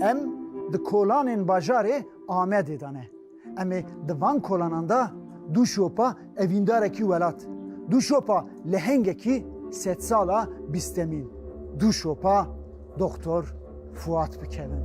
Em di kolanên bajarê Amedê de ne. Em ê di van kolanan de du şopa evîndarekî welat, du şopa lehengekî sedsala bîstemîn, du şopa Doktor Fuat bikevin.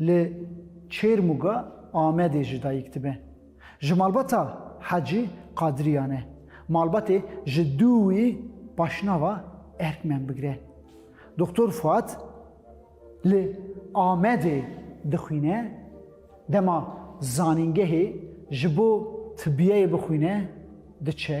Li Çêrmûga Amedê jî dayîk dibe. Ji malbata Hecî Qadiriyan e. Malbatê ji dû wî paşnava Erkmen bigire. Doxtor Fuat li Amedê dixwîne, dema zanîngehê ji bo tibiyeyê bixwîne diçe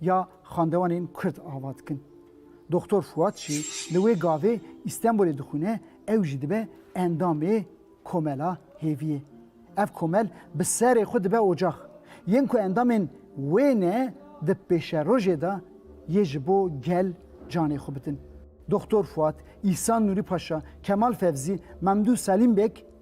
ya xandewanên Kurd ava dikin. Doxtor Fuat jî li wê gavê Îstenbolê dixwîne, ew jî dibe endamê Komela Hêviyê. Ev komel bi serê xwe dibe ocax. Yên ku endamên wê ne di pêşerojê de yê ji bo gel canê xwe bidin. Doxtor Fuat, Îhsan Nûrî Paşa, Kemal Fevzî, Memdû Selîm Beg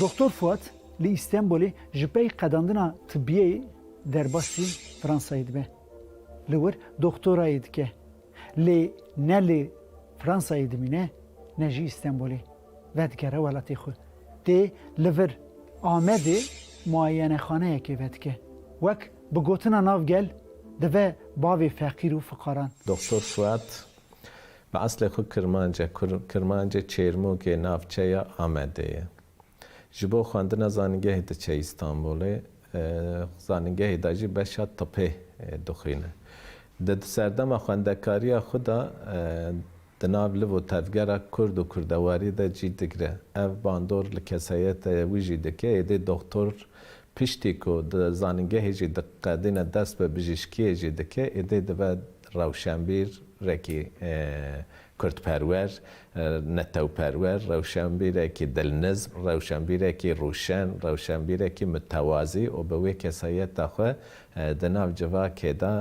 Doktor Fuat li Îstenbolê ji pey qedandina tibiyê derbasî Fransayê dibe. Li wir doktorayê dike. Lê ne li Fransayê dimîne ne jî Îstenbolê. Vedigere welatê xwe. Tê li vir Amedê muayenexaneyekê vedike. Wek bi gotina nav gel dive bavê feqîr û fiqaran. Doktor Suat, bi eslê xwe kirmanc e. Kirmancê Çêrmûgê navçeya Amedê ye. Ji bo xwendina zanîngehê diçe Îstanbûlê. Zanîngehê de jî beşa tibê dixwîne. Di serdema xwendekariya xwe de Di nav liv û tevgera kurd û kurdewarî de cî digre. Ev bandor li kesayeta wî jî dike. Êdî doxtor piştî ku di zanîngehê jî diqedîne dest bi bijîşkiyê jî dike, êdî dibe rewşenbîr rekî kurdperwer, netewperwer, rewşenbîrekî dilnizm, rewşenbîrekî rûşen, rewşenbîrekî mitewazî û bi wê kesayeta xwe Di nav civakê de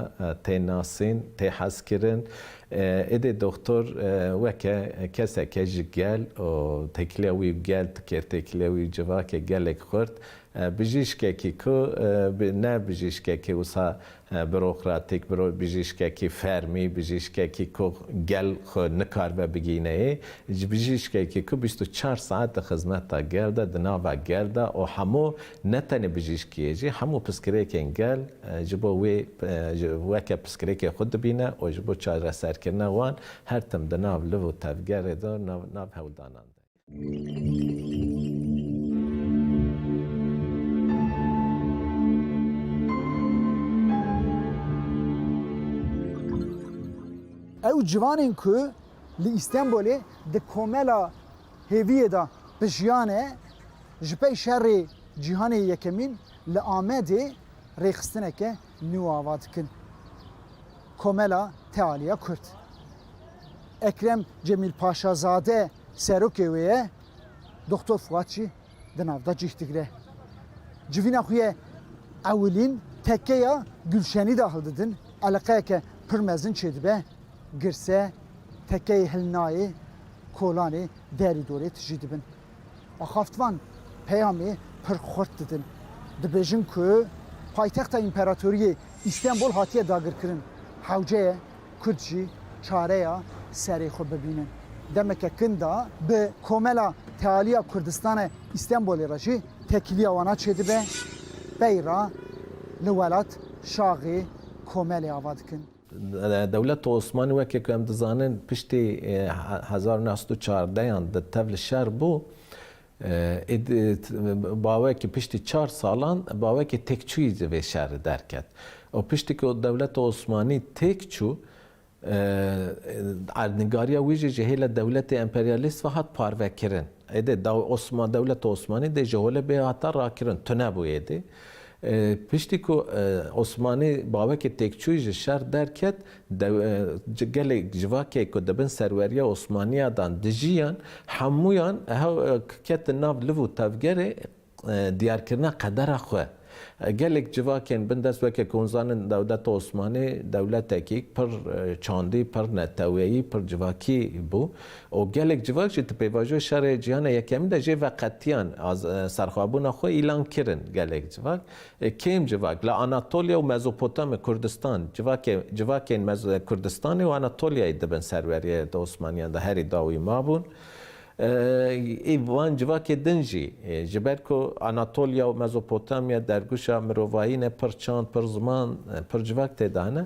tê nasîn, tê hezkirin. Êdî doxtor weke keseke ji gel û têkiliya wî û gel dikir, têkiliya wî û civakê gelek xurt. Bijîşkekî ku ne bijîşkekî wisa burokratîk, bijîşkekî fermî, bijîşkekî ku gel xwe nikaribe bigîneyê, bijîşkekî ku bîst û çar saet di xizmeta gel de, di nava gel de û hemû Ne tenê bijîşkiyê jî hemû piskirêkên gel ji bo wê weke piskirêkê xwe dibîne û ji bo çareserkirina wan her tim di nav liv û tevgerê de û nav hewldanan de ye. Ew ciwanên ku li Îstenbolê di komela Hêviyê de bi jiyane ji pey şerê cîhanê yekemîn li Amedê rêxistineke nû ava dikin. Komela Tealiya Kurd. Ekrem Cemîl Paşazade serokê wê ye, Doxtor Fuat jî di nav de cih digire. Civîna xwe yê ewilîn tekkeya Gulşenî de hildidin, eleqeyeke pir mezin çêdibe. Girse, tekeyê hilnayê kolanê derî dorê tijî dibin. Axaftvan peyamê pir xurt didin. Dibêjin ku paytexta împeratoriyê Îstenbol hatiye dagirkirin. Hewceye Kurd jî çareya serê xwe bibînin. Demeke kin de bi Komela Tealiya Kurdistane Îstenbolê re jî tekiliya wana çêdibe. Bey re li welat şaxê komelê ava dikin. Dewleta Osmanî weke ku em dizanin piştî hezar û neh sed û çardeh yan di tev li şer bû. Êd bawekî piştî çar salan bawekî têkçûyî ji vê şerî derket û piştî ku dewleta Osmanî têk çû erdnîgariya wî jî ji hêla dewletê emperyalîst ve hat parvekirin. Êdê dewleta Osmanî dê ji holê bê hata rakirin. Tune bû êdî. Piştî ku Osmanî bawekî têkçûyî ji şer derket, gelek civakê ku di bin serweriya Osmaniya dan dijiyan, hemûyan ketin nav liv û tevgerê diyarkirina qedera xwe. Gelek civakên bin dest weke ku hûn zanin dewleta Osmanî dewletekî pir çandî, pir neteweyî, pir civakî bû. û gelek civak jî di pêvajoyê Şerê Cîhana Yekemîn de jê ve qetiyan serxwebûna xwe îlan kirin. Gelek civak, kêm civak li Anatolya û Mezopotamya, Kurdistan, civakê civakên Kurdistanê û Anatolyayê dibin serweriyê di Osmaniyan de herî dawî mabûn. Î van civakê din jî ji ber ku Anatolya û Mezopotamya derguşa mirovayî ne, pir çand, pir ziman, pir civak tê de hene,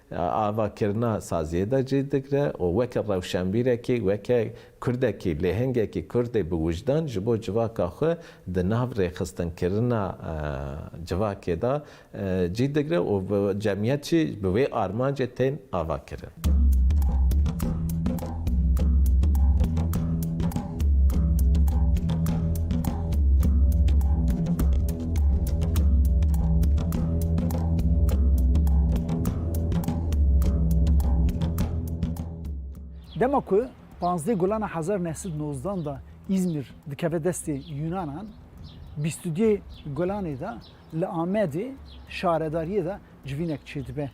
Avakirina saziyê de cih digre û weke rewşenbîrekî, weke Kurdekî, lêhengekî Kurdê bi wijdan ji bo civaka xwe di nav rêxistinkirina civakê de cih digre û cemiyet jî bi wê armancê tên avakirin. Dema ku panzdeh gulana hezar neh sed nozdan da Îzmîr dikeve destê Yunanan, bîst û duyê gulanê de li Amedê şaredariyê de civînek çêdibe.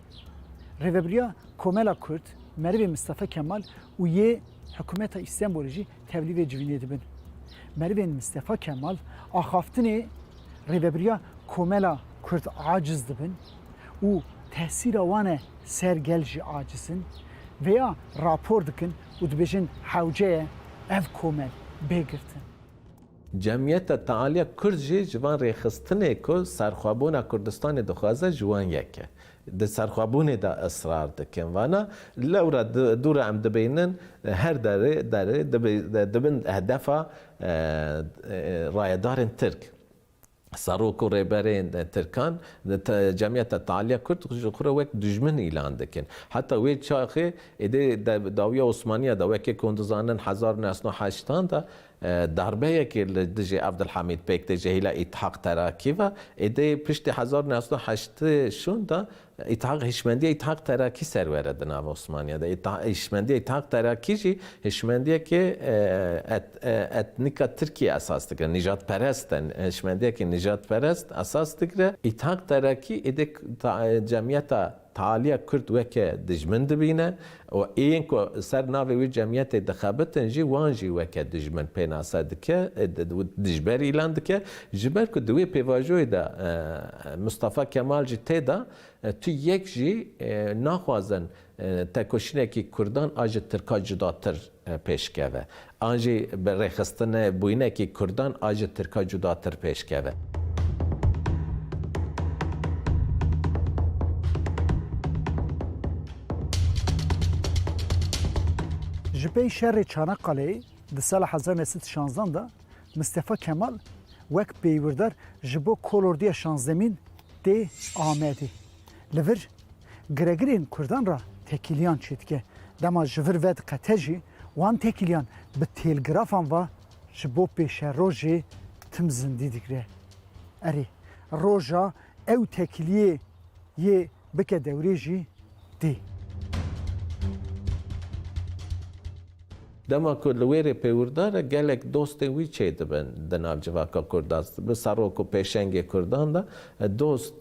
Rêvebiriya Komela Kurd, Merivê Mistefe Kemal û yê Hikûmeta Îstenbolê jî tevlî vê civînê dibin. Merivên Mistefa Kemal axaftinê rêvebiriya komela Kurd aciz dibin û tesîra wan e ser gel jî aciz in. Vêya rapor dikin û dibêjin hewce ye ev komel bê girtin. Cemiyeta Tealiya Kurd jî ji van rêxistinê ku serxwebûna Kurdistanê dixwaze ji wan yek e. Di serxwebûnê de israr dikin vana, lewra dû re em dibînin her derê derê dibin hedefa rayedarên Tirk. Serok û rêberên Tirkan di Cemiyeta Tealiya Kurd ji xwe re wek dijmin îlan dikin. Heta wê çaxê êdî di dawiya Osmaniya de wekî ku hûn dizanin hezar û neh sed û heştan de Darbeyekê li dijî Evdilhamîd Pêk tê ji hêla Îtihak Terakî ve. Êdî piştî hezar û neh sed û heşt ê şûn de Îtihak hişmendiya Îtihak Terakî ser were di nava Osmaniya de. Îtihak hişmendiya Îtihak Terakî jî hişmendiyekê et etnîka Tirkiyê esas digire. Nîjadperest e. Hişmendiyekê nîjadperest esas digire. Îtihak Terakî êdî ta cemiyeta. Taliye Kurd weke dijmin dibîne û ên ku li ser navê wî cemiyetê dixebitin jî wan jî weke dijmin pênase dike û dijberî îlan dike. Ji ber ku di wê pêvajoyê de Mistefa Kemal jî tê de, tu yek jî naxwazin tekoşînekî Kurdan a ji Tirka cudatir pêş keve. An jî bi rêxistinê bûyinekî kurdan a ji tirka cudatir pêş keve. Ji pey şerê Çanaqaleyê di sala hezar neh sed û şanzdan de Mistefa Kemal wek pêywîrdar ji bo kolordiya şanzdemîn tê Amedê. li vir giregirên Kurdan re tekîliyan çêdike. Dema ji vir vediqete jî wan tekîliyan bi têlgrafan ve ji bo pêşerojê tim zindî digire. Erê, roja ew tekîliyê yê bike dewrê jî tê. Dema ku li wêrê pêwirdan e gelek dostên wî çêdibin di nav civaka Kurdan. Bi serok û pêşengê Kurdan de dost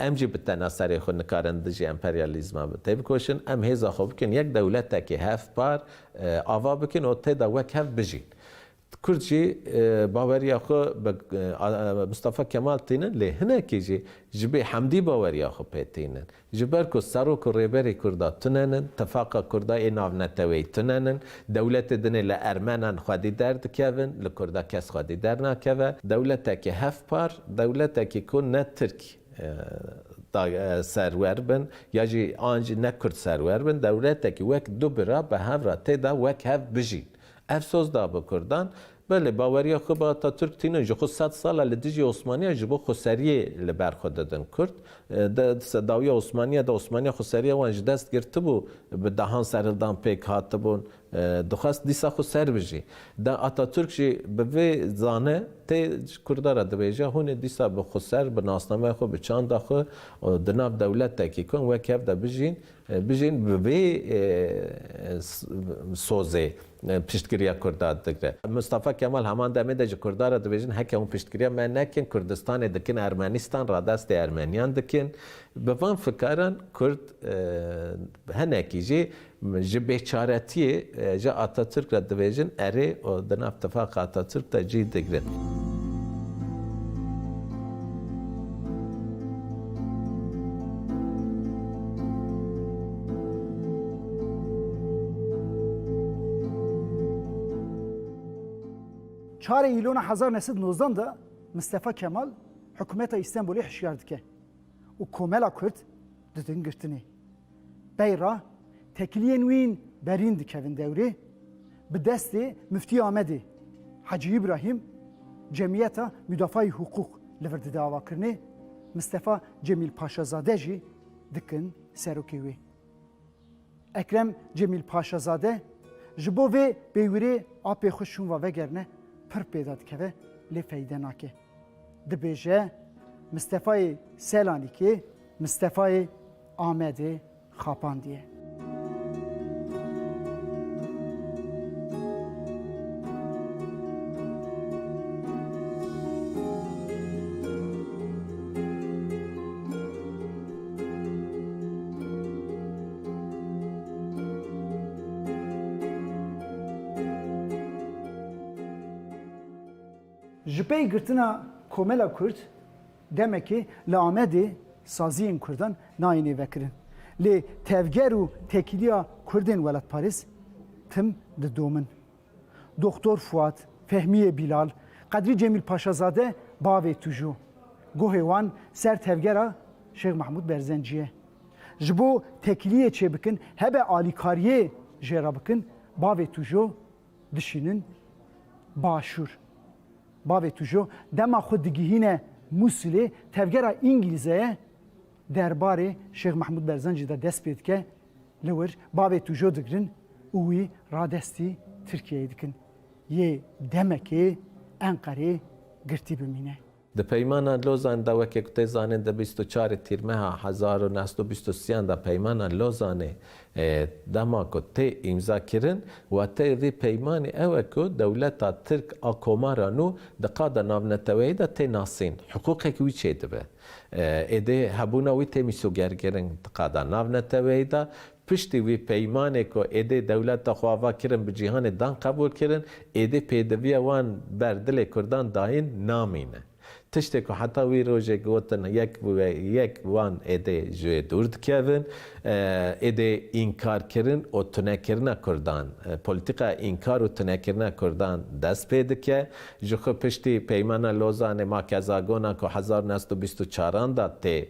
Em jî bi tena serê xwe nikarin dijî emperyalîzma têbikoşin. Em hêza xwe bikin yek dewletekî hevpar ava bikin û tê de wek hev bijîn. Kurd jî baweriya xwe bi Mistefa Kemal tînin lê hinekî jî ji bê Hemdî baweriya xwe pê tînin. Ji ber ku serok û rêberê Kurda tune nin, tifaqa Kurda ê navneteweyî tune nin. Dewletê dinê li Ermenan xwedî derdikevin, li Kurda kes xwedî dernakeve. Dewletekî hevpar, dewletekî ku ne Tirk serwer bin ya jî an jî ne Kurd serwer bin, dewletekî wek du bira bi hev re tê de wek hev bijîn. Ev soz da bi Kurdan, Belê, baweriya xwe bi Atatürk tînin. Ji xwe sed sal e li dijî Osmaniya ji bo xweseriyê li ber xwe didin. Kurd di sedawiya Osmaniya de Osmaniya xweseriya wan ji dest girtibû, bi dehan serhildan pêk hatibûn, dixwest dîsa xwe ser bijî. De Atatürk jî bi vê zane tê ji Kurda re dibêje, hûn ê dîsa bi xweser, bi nasnameya xwe, bi çanda xwe û di nav dewletekî ku em wek hev de bijîn, bijîn bi vê sozê. piştgiriya Kurda digre. Mustafa Kemal heman demê de ji Kurda re dibêjin heke hûn piştgiriya me nekin Kurdistanê dikin Ermenîstan radestê Ermeniyan dikin. Bi van fikaran Kurd hinekî jî ji bêçaretiyê ji Atatürk re dibêjin erê û di nav tifaqa Atatürk de cîh digrin. Çarê îlona hezar neh sed nozdan de Mistefa Kemal hikûmeta Îstenbolê hişyar dike û komela Kurd didin girtinê. Pey re tekiliyên wîn berîn dikevin dewrê bi destê Miftî Amedê Hecî Îbrahîm Cemiyeta Mudafayî Huqûq li vir dide avakirinê, Mistefa Cemîl Paşazade jî dikin serokê wê. Ekrem Cemîl Paşazade, Ji bo vê peywirê apê xwe şûnva vegerine pir pêda dikeve lê feyde nake. Dibêje Mistefayê Selanikê Mistefayê Amedê xapandiye. Ji pey girtina Komela Kurd demekê li Amedê saziyên Kurdan nayêne vekirin. Lê tevger û tekîliya Kurdên welatparêz tim didomin. Doxtor Fuat, Fehmiyê Bîlal, Qedrî Cemîl Paşazade bavê Tuju. Gohê wan ser tevgera Şêx Mehmûd Berzencî ye. Ji bo tekiliyê çêbikin hebe alîkariyê jê re bikin bavê Tuju dişînin Başûr. Bavê Tuju dema xwe digihîne Mûsilê tevgera Îngîlîze ye. Derbarê Şêx Mehmûd Berzancî de dest pê dike, li wir bavê tûjo digirin û wî radestî Tirkiyeyê dikin, yê demekê Enqerê girtî bimîne. Di Peymana Lozan de weke ku tê zanîn di bîst û çarê Tîrmeha hezar û neh sed û bîst û sî yan de Peymana Lozanê dema ku tê îmzakirin, wateyê vî peymanê ew e ku dewleta Tirk a komara nû di qada navneteweyî de tê nasîn, hiqûqek wî çêdibe. Êdî hebûna wî tê mîsogerkirin di qada navneteweyî de. Piştî wî peymanê ku êdî dewleta xwe ava kirin bi cîhanê dan qebûl kirin, êdî pêdiviya wan ber dilê kurdan dayîn namîne. Tiştê ku heta wî rojê gotin yek bi yek wan êdî ji wê dûr dikevin. Êdî înkarkirin û tunekirina kurdan, polîtîkaya înkar û tunekirina kurdan dest pê dike. Ji xwe piştî Peymana Lozanê ma kezagonan ku hezar û neh sed û bîst û çar an da tê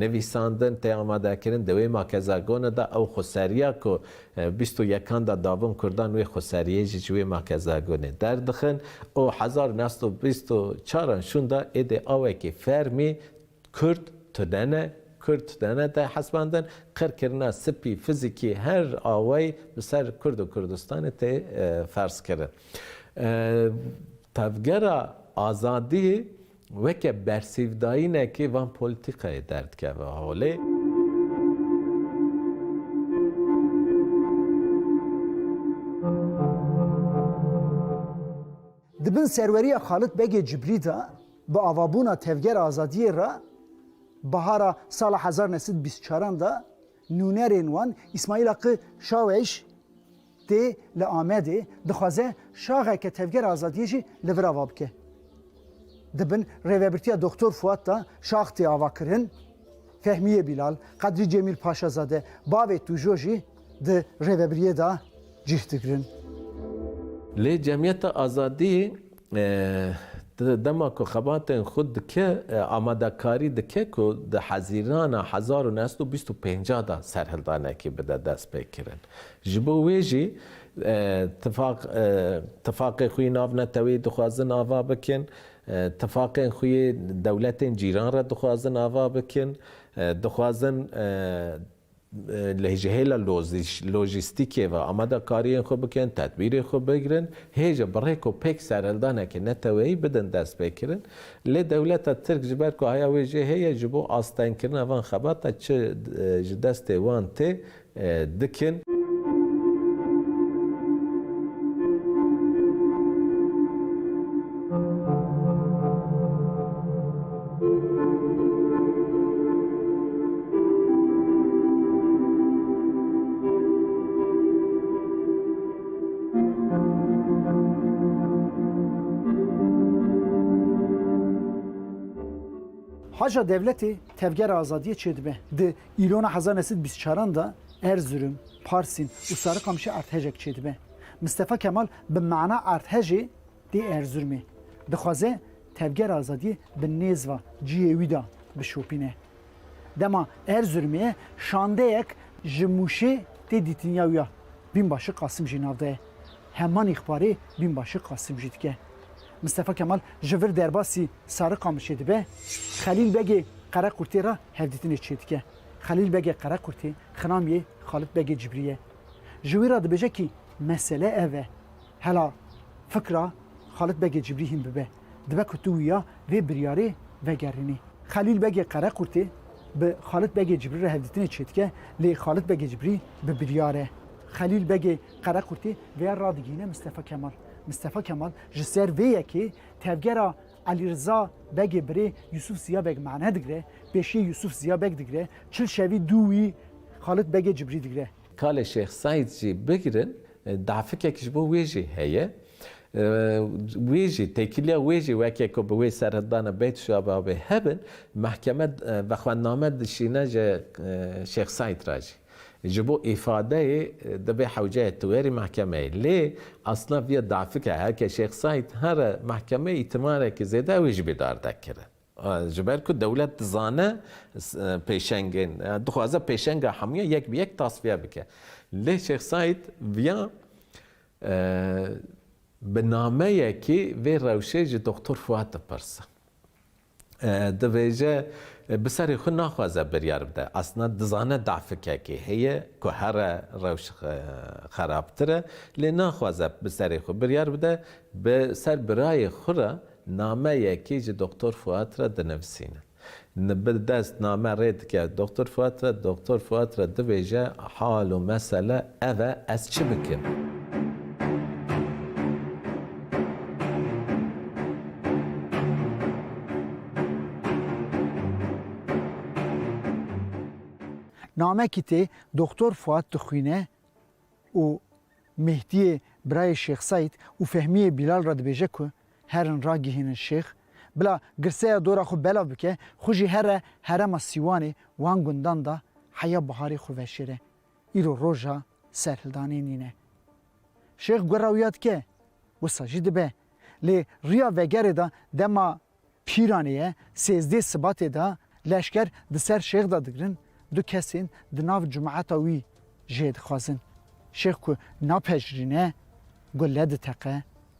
nivîsandin, tê amadekirin, di wê ma kezagona da ew xweseriya ku bîst û yek an da dabûn Kurdan wê xweseriyê jî ji wê ma kezagonê derdixin û hezar û neh sed û bîst û çar an şûn da êdî awekî fermî Kurd tune ne, Kurd tune ne tê hesibandin, qirkirina spî fizîkî her awayî bi ser Kurd û Kurdistanê tê ferzkirin. Tevgera azadiyê weke bersîvdayînekê van polîtîkayê derdikeve holê. Di bin serweriya Xalit Begê Cibrî de bi avabûna Tevgera Azadiyê re bahara sala hezar neh sed û bîst û çar an de nûnerên wan Îsmaîl Aqi Şawêş, Tê li Amedê dixwaze şaxeke Tevgera Azadiyê jî li vir ava bike. Di bin rêvebirtiya Doxtor Fuat de şax tê avakirin. Fehmiye Bilal, Qedrî Cemîl Paşazade, bavê Tujo jî di rêvebiriyê de cih digirin. Lê Cemiyeta Azadiyê Dema ku xebatên xwe dike, amadekarî dike ku di hezîrana hezar û neh sed û bîst û pênc de serhildanekî bide destpêkirin. Ji bo wê jî tifaq tifaqê xwe yê navneteweyî dixwazin ava bikin, tifaqên xwe yê dewletên cîran re dixwazin ava bikin, dixwazin Lê ji hêla lojîstîkê ve amade kariyên xwe bikin, tedbîrên xwe bigirin, hê jî bi rê ku pêk serhildanekî neteweyî bidin destpêkirin. Lê dewleta Tirk ji ber ku heya wê jê heye ji bo astengkirina van xebata çi ji destê wan tê dikin. Haca Devletê Tevgera Azadiyê çêdibe. Di îlona hezar neçû û bîst û çaran de Erzurum, Parsîn û Sarikamişê erdhejek çêdibe. Mistefa Kemal bi mana erdhejê, tê Erzurumê. Dixwaze Tevger Azadiyê bi nêz va ciyê wî de bişopîne. Dema Erzurumê ye şandeyek ji Mûşê tê dîtinya wî ya. Bînbaşi Qasim jî nav daye. Heman îxbarê bînbaşi Qasim jî dike. Mistefa Kemal ji vir derbasî Sarikamişê dibe, Xelîl Begê Qerequrtê re hevdîtinê çêdike. Xelîl Begê Qerequrtê xinamiyê Xalit Begê Cibrî ye. Ji wî re dibêje kî mesele ev e. Hela fikra Xalit Begê Cibrî hîn bibe, dibe ku tu wiya vê biryarê vegerînî. Xelîl Begê Qerequrtê bi Xalit Begê Cibrî re hevdîtinê çêdike, lê Xalit Begê Cibrî bi biryar e. Xelîl Begê Qerequrtê vêya radigihîne Mistefa Kemal. Mistefa Kemal ji ser vê yekê tevgera Elî Riza Begê birê Yûsûf Ziya Beg mane digre, pêşiyê Yûsûf Ziya Beg digre, çil şevî dû wî Xalit Begê Cibrî digre. Kalê Şêx Seîd jî bigirin, dafikek ji bo wê jî heye. Wê jî, têkiliya wê jî weke ku bi wê seredana Beyt Şababê hebin, mehkeme vexwendname dişîne ji Şêx Seîd re jî. Ji bo îfadeyê dibe hewceyê tewêrî mehkemeyê. Lê asna vîya dafike her ke Şêx Saîd here mehkemeyê îtimarekî zêde wê jibê dardek kire. Ji ber ku dewlet dizane pêşengên dixwaze pêşenga hemûyan yek bi yek tasfiye bike. Lê Şêx Saîd vîya bi nameyekî vê rewşê ji Doktor Fuat dipirse. Dibêje bi serê xwe naxwaze biryar bide. Aslina dizane dafkekê heye ku here rewş xerabtir e lê naxwaze bi serê xwe biryar bide. Bi ser birayê xwe re nameyekê ji Doktor Fuat re dinivisîne. Bi dest name rê dike Doktor Fuat re. Doktor Fuat re dibêje hal û mesele ev e ez çi bikim? Namekî tê Doktor Fuat dixwîne û Mehdiyê birayê Şêx Seîd û Fehmiyê Bîlal re dibêje ku herin ragihînin Şêx, bila girseya dora xwe belav bike, xwe jî here herema Sîwanê wan gundan de heya biharê xwe veşêre. Îro roja serhildanê nîne. Şêx gora wiya dike, wisa jî dibe. Lê riya vegerê de dema pîranê ye, sêzdê sibatê de leşker di ser şêx de digirin, du kesên di nav cumata wî jê dixwazin. Şêx ku napejirîne, gule diteqe.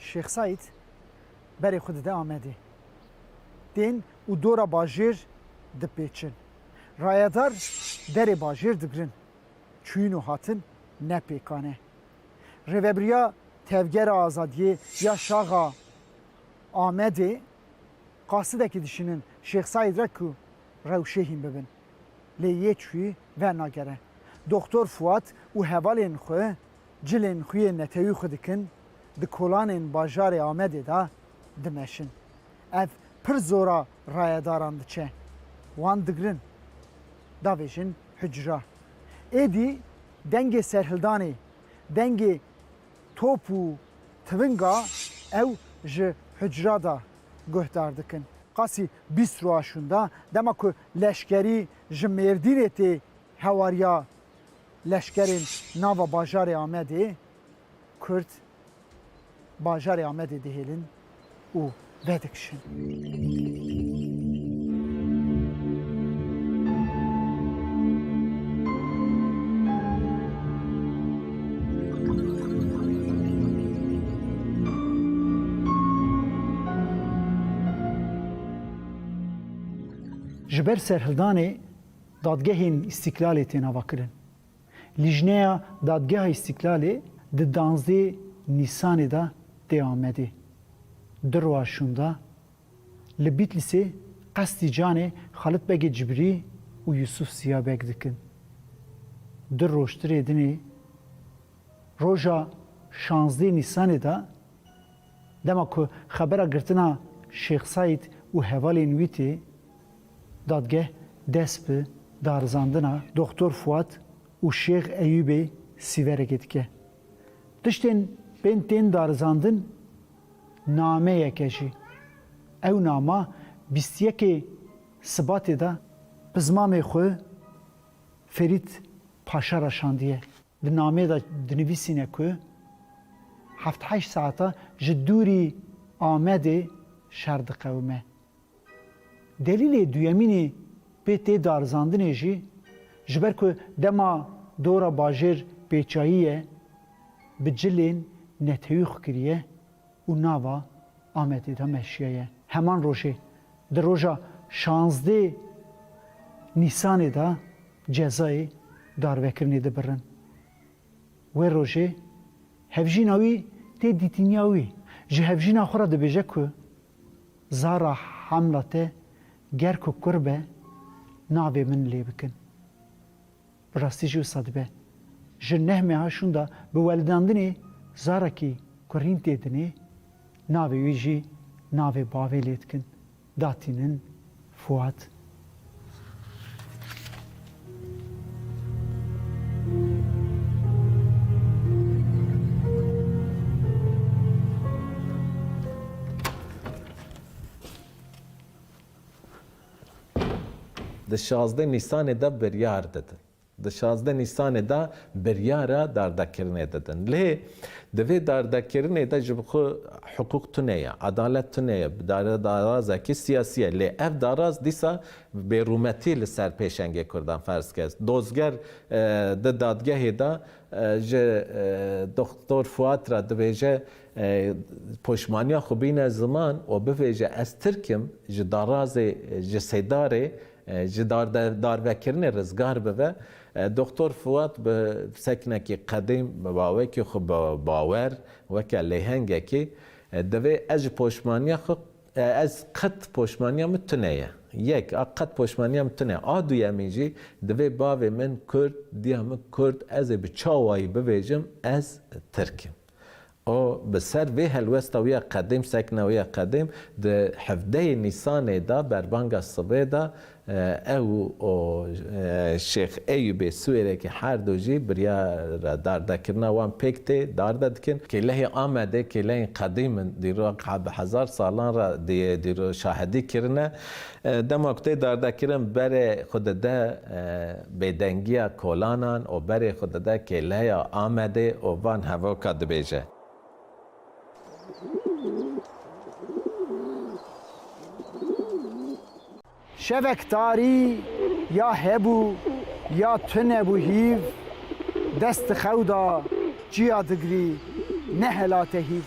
Şêx Saîd berê xwe dide Amedê. Tên û dora bajêr dipêçin. Rayedar derê bajêr digirin. Çûyîn û hatin ne pêkan e. Rêvebiriya Tevgera Azadiyê ya Şaxa Amedê qasidekî dişînin Şêx Saîd re ku rewşê hîn bibin. Lê yê çûyî vernagere. Doxtor Fuat û hevalên xwe Cilên xuyê netewî xwe dikin, di kolanên bajarê Amedê de dimeşin. Ev pir zora rayedaran diçe, wan digirin, davêjin hucra. Êdî dengê serhildanê, dengê top û tivinga ew ji hucra de guhdar dikin. Qasî bîst rûaşûn da, dema ku leşkerî ji Mêrdînê tê hewariya Leşkerên nava bajarê Amedê Kurd bajarê Amedê dihêlin û vedikişin. Dadgehên Îstîklalê tên avakirin. Lîjneya Dadgeha Îstîklalê di danzdê Nîsanê de tê Amedê du roja şûnda li Bîtlîsê qestî canê Xalit Begê Cibrî û Yusuf Ziya Beg dikin. Du rojtirê dinê roja şazdê Nîsanê de dema ku xebera girtina Şêx Seîd û hevalên wî tê, Dadgeh dest bi darizandina Doxtor Fuat û Şêx Eyûbê Sîverekê dike. Tiştên bên tên darizandin nameyek e jî. Ew nama bîst yekê Sibatê de bi zimamê xwe Ferît Paşa re şandiye. Di nameyê de dinivîsîne ku heft heşt saeta ji dûrî Amedê şer diqewime. Delîlê duyemînê pê tê darizandinê jî, ji ber ku dema dora bajêr pêçayî ye, bi cilên netewî xwe kiriye û nava Amedê de meşiye ye. Heman rojê, di roja şazdê Nîsanê de cezayê darvekirinê dibirin. Wê rojê hevjîna wî tê dîtîniya wî ji hevjîna xwe re dibêje ku zara hemla te ger ku kur be navê min lê bikin. Bi rastî jî wisa dibe. Ji neh meha şûnda bi weldandinê zarekî kurîn tê dinê, navê wî jî navê bavê lê dikin. Da tînin Fuat. Di şazdeh Nîsanê de biryar didin. Di şazdeh Nîsanê de biryara dardakirinê didin. Lê di vê dardakirinê de ji bi xwe hiqûq tune ye, adalet tune ye, darazeke siyasî ye. Lê ev daraz dîsa bêrûmetî li ser pêşengê kurdan ferz kir. Dozger di dadgehê de ji Doxtor Fuat re dibêje poşmaniya xwe bîne ziman û bivêje ez Tirk im ji darazê ji Sêdarê Ji darvekirinê rizgar bibe, Doxtor Fuat bi seknekî qedîm, bi bawekî xwe bi bawer, weke lêhengekî, Divê ez ji poşmaniya xwe, ez qet poşmaniya min tune ye. Yek, a qet poşmaniya min tune. A duyemîn jî, divê bavê min Kurd, diya min Kurd, ez ê bi çawayî bibêjim ez Tirk im. Û bi ser vê helwesta wî ya qedîm, sekna wî ya qedîm, di hevdeyê Nîsanê de berbanga sibê de ew û Şêx Eyûbê Siwêrekî her du jî biryara dardekirina wan pêk tê darde dikin. Kêlehê Amedê kêlehên qedîm in, dîrok bi hezar salan re dîrok şahedî kirine. Dema ku tê dardekirin berê xwe dide bêdengiya kolanan û berê xwe dide kêleya Amedê û van hevoka dibêje. Şevek tarî ya hebû ya tune bû hîv, dest di xew da çiya digirî nehelate hîv.